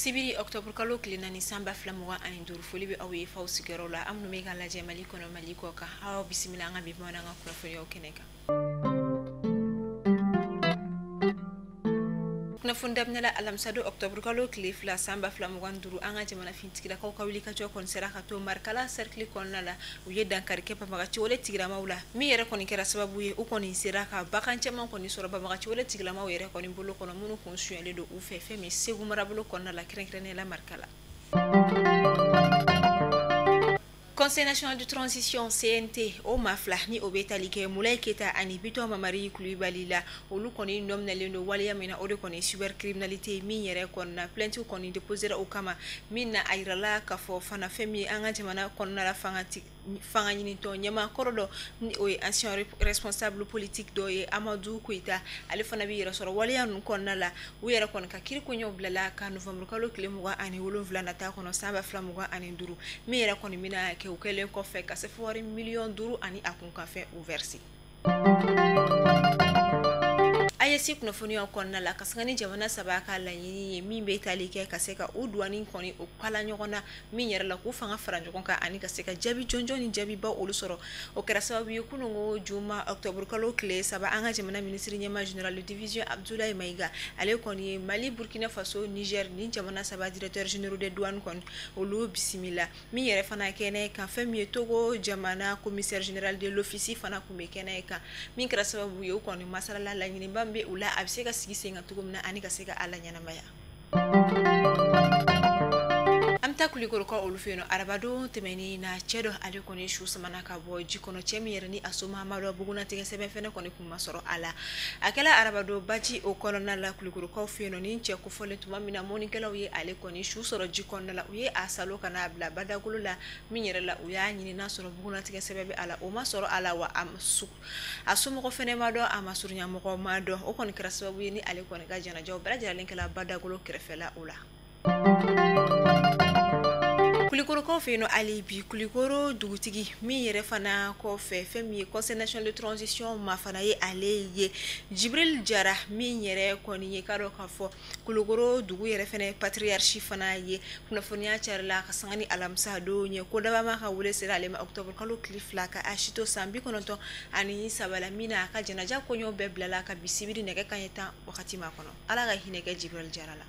sibiri octobre kalo tile naani san ba fila mugan ani duuru foli bɛ aw ye f'aw sigiyɔrɔ la aw minnu bɛ k'an lajɛ mali kɔnɔ mali kɔkan aw bisimila an ka bi bamanankan kunnafoniyaw kɛnɛ kan kunnafoni daminɛ la alamisa don octobre kalo tile fila san ba fila mugan duuru an ka jamana finitigilakaw ka wulikajɔ kɔni sera ka to marikala cercle kɔnɔna la u ye dankari kɛ banbagaciwale tigilamaw la min yɛrɛ kɔni kɛra sababu ye u kɔni sera ka bagan caman kɔni sɔrɔ banbagaciwale tigilamaw yɛrɛ kɔni bolo kɔnɔ minnu kun sonyalen don u fɛ fɛn min segu marabolo kɔnɔna la kɛrɛnkɛrɛnnenya la marikala conseil national de transition cnt o maa fila ni o bɛ tali kɛ mulayi keyita ani bitɔn mamari kulibali la olu kɔni nɔminalen don waleya min na o de kɔni cybercriminalité min yɛrɛ kɔnɔna plainte kɔni déposera o kama min na a yirala k'a fɔ fana fɛn min an ka jamana kɔnɔna la fangaɲinitɔn ɲɛmaa kɔrɔ dɔ ni o ye ancien responsable politique dɔ ye amadu koyita ale fana b'i yɛrɛ sɔrɔ waleya ninnu kɔnɔna la u yɛrɛ kɔni ka kiri koɲɛw bilala ka novembre kalo tile mugan ani wolonwula nata kɔnɔ san ba fila mugan ani duuru min yɛrɛ kɔni bɛna kɛ u kɛlen kɔfɛ ka sefawari miliyɔn duuru ani a kunkanfɛn o verse aes kunnafoniyaw kɔnɔna la ka sanga ni jamana saba ka laɲini ye min bɛ tali kɛ ka se ka u duwani kɔni o kala ɲɔgɔn na min yɛrɛ la k'u fanga fara ɲɔgɔn kan ani ka se ka jaabi jɔnjɔn ni jaabiba olu sɔrɔ o kɛra sababu ye kunun n ko juma octobre kalo tile saba an ka jamana minisiriɲɛmaa général de division abudulayi mayiga ale kɔni ye mali burukina faso nizɛri nin jamana saba directeur général de douane kɔni olu bisimila min yɛrɛ fana kɛnɛ kan fɛn min ye togo jamana commissaire général de l'office fana tun bɛ kɛnɛ in kan min kɛra sababu ye u kɔni masalala laɲiniba bɛ u la a bɛ se ka sigi sen kan cogo min na ani ka se ka a laɲɛnamaya an bɛ taa kulikorokaw olu fɛ yen nɔ arabadon tɛmɛnen na cɛ dɔ ale kɔni su samana ka bɔ ji kɔnɔ cɛ min yɛrɛ ni a somaa ma dɔn bugunnatigɛ sɛbɛn fana kɔni tun ma sɔrɔ a la a kɛla arabadon baji o kɔnɔna la kulikorokaw fɛ yen nɔ nin cɛ kofɔlen tuma min na mɔnnikɛlaw ye ale kɔni su sɔrɔ ji kɔnɔna la u ye a salo ka n'a bila badagolo la min yɛrɛ la u y'a ɲini n'a sɔrɔ bugunnatigɛ sɛbɛn bɛ a la o ma sɔrɔ a la wa a a somɔgɔ fana ma dɔn a masurunyamɔgɔ ma dɔn o kɔni kɛra sababu ye ni ale kɔni ka janajaw bɛɛ lajɛlen kɛla badagolo kɛrɛfɛla o la kulikorokaw fɛ yen nɔ hali bi kulikoro dugutigi min yɛrɛ fana kɔfɛ fɛn min ye conseil national de transition maa fana ye ale ye jibril jara min yɛrɛ kɔni ye k'a dɔn k'a fɔ kulukoro dugu yɛrɛ fana ye patiriyasi fana ye kunnafoniya carila ka sanga ni alamisadon ye ko dabama ka weele sera ale ma otobrikalo tile fila ka a si to san bi kɔnɔntɔn ani saba la min na a ka janaja koɲɛw bɛɛ bilala ka bi sibiri nɛgɛ kanɲɛ tan wagati ma kɔnɔ ala ka hinɛ kɛ jibril jara la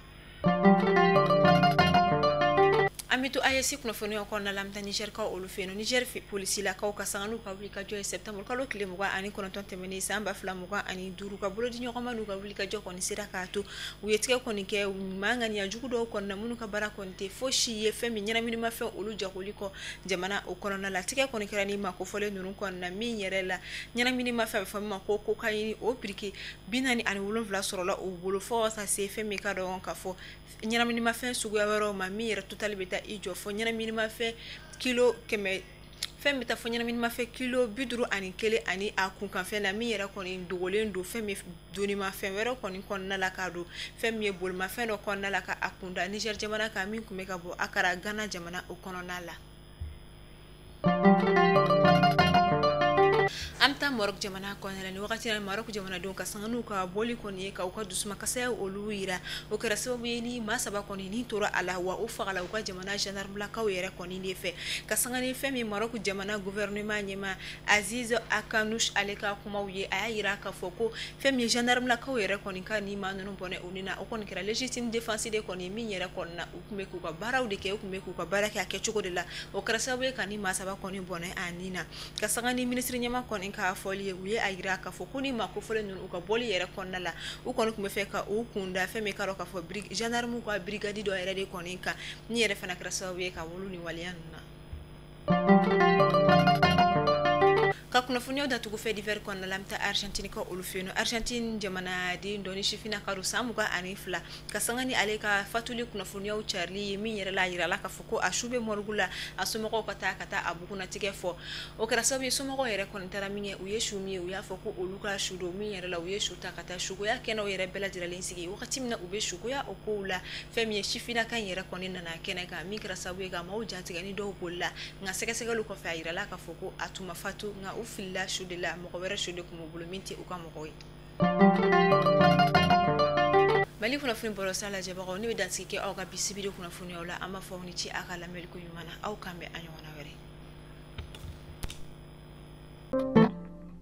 an bɛ to AES kunnafoni kɔnɔna la an bɛ taa nizɛrikaw olu fɛ yen nɔ nizɛri polisilakaw ka sanga n'u ka wulikajɔ ye sɛtanburukalo tile mugan ani kɔnɔntɔn tɛmɛnen san ba fila mugan ani duuru ka bolo di ɲɔgɔn ma n'u ka wulikajɔ kɔni sera k'a to u ye tigɛ kɔni kɛ maa ŋaniya jugu dɔw kɔnɔna minnu ka baara kɔni tɛ fosi ye fɛn min ɲɛnaminimafɛn olu jagoli kɔ jamana o kɔnɔna la tigɛ kɔni kɛra ni maa kofɔlen ninnu kɔnɔna min yɛrɛ la ɲɛnaminimafɛn bɛ fɔ min ma ko kokayini o biriki bi naani ani wolonwula sɔrɔla u bolo fo ka se fɛn min k'a dɔn k'a fɔ ɲɛnaminimafɛn suguya wɛrɛw ma min yɛrɛ totali bɛ taa i jɔ fo ɲɛnaminimafɛn kilo kɛmɛ fɛn bɛ taa fo ɲɛnaminimafɛn kilo bi duuru ani kelen ani a kunkanfɛn na min yɛrɛ kɔni dogolen don fɛn min ye donimafɛn wɛrɛ kɔni kɔnɔna la k'a don fɛn min ye bolimafɛn dɔ kɔnɔna la ka a kun da nizɛri jamana kan min tun bɛ ka bɔ akara gana jamana o kɔnɔna la an bɛ taa marɔku jamana kɔnɔna la nin wagati na marɔku jamanadenw ka sanga n'u ka bɔli kɔni ye ka u ka dusumakasaya olu yira o kɛra sababu ye nin maa saba kɔni ni tora a la wa u fagala u ka jamana gendarmelakaw yɛrɛ kɔni Nin de fɛ ka sanga ni fɛn min ye Maroc jamana gouvernement ɲɛmaa Aziz Akhannouch ale ka kumaw ye, a y'a jira k'a fɔ ko fɛn min ye gendarme lakaw yɛrɛ kɔni ka nin maa ninnu bɔnɛ u ni na, o kɔni kɛra légitime défense de kɔni ye min yɛrɛ kɔni na, u tun bɛ k'u ka baaraw de kɛ, u tun bɛ k'u ka baara kɛ a kɛ cogo de la, o kɛra sababu ye ka nin maa saba kɔni bɔnɛ a ni na, ka sanga ni ministre ɲɛmaa kɔni ka fɔli ye, u ye a jira k'a fɔ ko nin maa kofɔlen ninnu u ka bɔli yɛrɛ kɔnɔna la, u kɔni tun b'a fɛ ka u kun da fɛn min ye i k'a dɔn k'a fɔ bri gendarme ka brigade dɔ yɛrɛ de kɔni kan. Nin yɛrɛ fana kɛra sababu ye ka wolo nin waleya ninnu na. Ka kunnafoniyaw datugu fait divers kɔnɔna la, an bɛ taa Argentinekaw olu fɛ yen nɔ. Argentine jamanaden dɔ ni sifinnaka don san mugan ani fila, ka sanga ni ale ka faatuli kunnafoniyaw carili ye, min yɛrɛ la, a jirala k'a fɔ ko a su bɛ morgue la, a somɔgɔw ka taa ka taa a bugunnatigɛ fɔ. O kɛra sababu ye somɔgɔw yɛrɛ kɔni taara min kɛ, u ye su min ye, u y'a fɔ ko olu ka su don, min yɛrɛ la, u ye su ta ka taa sukoya kɛnɛw yɛrɛ bɛɛ lajɛrelen sigi, wagati min na u bɛ sukoya o kow la. fɛn min ye sifinnaka in yɛrɛ kɔni nana kɛnɛ kan min kɛra sababu ye ka maaw jatigɛ ni dɔw bolila nka sɛgɛsɛgɛliw kɔfɛ a yirala k'a fɔ ko a tun ma fatu nka u filila su de la mɔgɔ wɛrɛ su de tun b'u bolo min tɛ u ka mɔgɔ ye mali kunnafoni bɔlɔsira lajɛbagaw ne bɛ dansigi kɛ aw ka bi sibiri kunnafoniyaw la an b'a fɔ aw ni ce aw ka lamɛnliko ɲuman na aw k'an bɛn a ɲɔgɔnna wɛrɛ